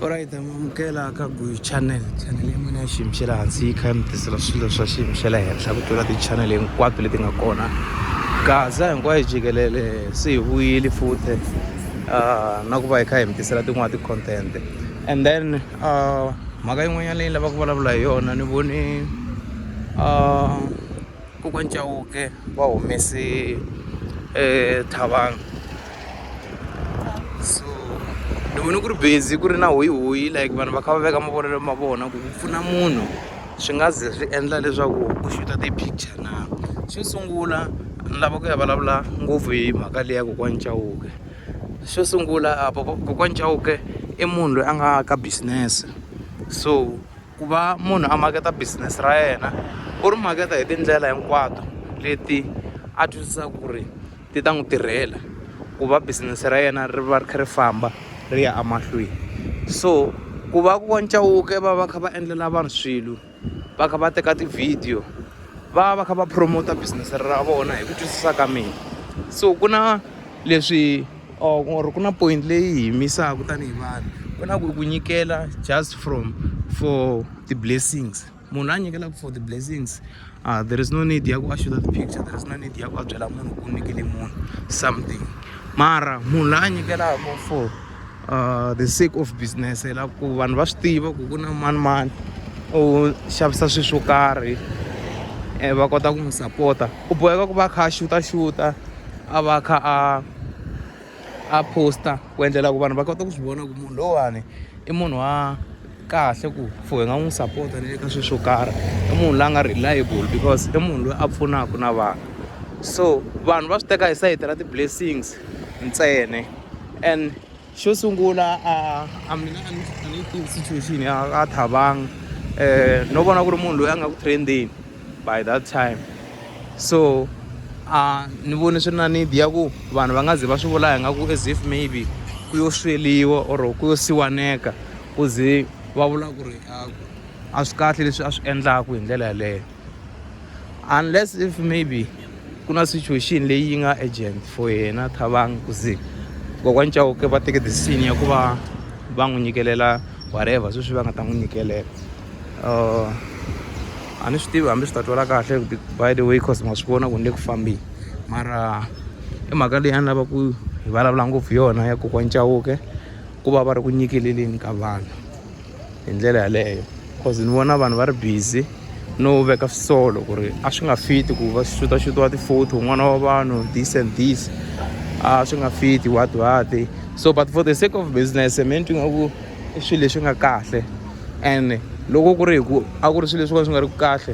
Alright, amukela ka Guy Channel. Channel ya mina ya xiyimo xa le hansi yi kha yi mi tisela swilo swa xiyimo xa le henhla ku tlula ti-channel hinkwato leti nga kona. Gaza hinkwayo jikelele se hi vuyile futhi ah, na ku va hi kha hi mi tisela tin'wana ti-content. And then ah, mhaka yin'wanyana leyi lavaka ku vulavula hi yona ni vone ah, Kokwani Chauke va humese thavangi so ni vone ku ri busy ku ri na hoyi hoyi like vanhu va kha va veka mavonelo ma vona ku ku pfuna munhu swi nga ze swi endla leswaku u xuta ti-picture na xo sungula ni lava ku ya vulavula ngopfu hi mhaka leyi ya kokwani Chauke xo sungula kokwani Chauke i munhu loyi a nga ka business so. ku va munhu a maketa business ra yena u ri maketa hi tindlela hinkwato leti a twisisaka ku ri ti ta n'wi tirhela ku va business ra yena ri va ri kha ri famba ri ya emahlweni so ku va ku wa ncawuke va va kha va endlela vanhu swilo va kha va teka ti-video va va va kha va promote business ra vona hi ku twisisa ka mina so ku na leswi. or or ku na point leyi hi yimisaku tanihi vanhu ku na ku ku nyikela just from for the blessings munhu a nyikelaku for the blessings uh, there is no need ya ku a shoot the picture there is no need ya ku a byela munhu ku nyikele munhu something mara munhu la a nyikelaka for uh, the sake of business la ku vanhu va swi tiva ku ku na mani mani u xavisa swilo swo karhi um va kota ku n'wi sapota u boheka ku va a kha a xuta xuta a va a kha a a post-a ku endlela ku vanhu va kota ku swi vona ku munhu lowani i munhu wa kahle ku for hi nga n'wi sapota ni le ka swilo swo karhi i munhu loyi a nga reliable because i munhu loyi a pfunaka na vanhu so vanhu va swi teka hi sayiti ra ti-blessings ntsena and xo sungula a a mina a ni a ni tivi situation ya ka thabang um no vona ku ri munhu loyi a nga ku trendeni by that time so a ni voni swi ri na need ya ku vanhu va nga ze va swi vula hi nga ku as if maybe ku yo sweliwa or ku yo siwaneka ku ze va vula ku ri a swi kahle leswi a swi endlaku hi ndlela yeleyo unless if maybe ku na situation leyi yi nga agent for yena thabang ku ze kokwana chauke va teke decision ya ku va va n'wi nyikelela whatever sweswi va nga ta n'wi nyikelela uh, a ni swi tivi hambi swi ta twala kahle by the way cause ma swi vona ku ni le ku fambeni mara i mhaka leyi a ni lava ku hi vulavula ngopfu yona ya kokwana chauke ku va va ri ku nyikeleleni ka vanhu hi ndlela yaleyo cause ni vona vanhu va ri busy no veka swisolo ku ri a swi nga fiti ku va xutaxutiwa ti-photo n'wana wa vanhu this and this a swi nga fiti what what so but for the sake of business me ni twi nga ku i swilo leswi nga kahle and loko ku ri hi ku a ku ri swilo leswi ka swi nga ri ku kahle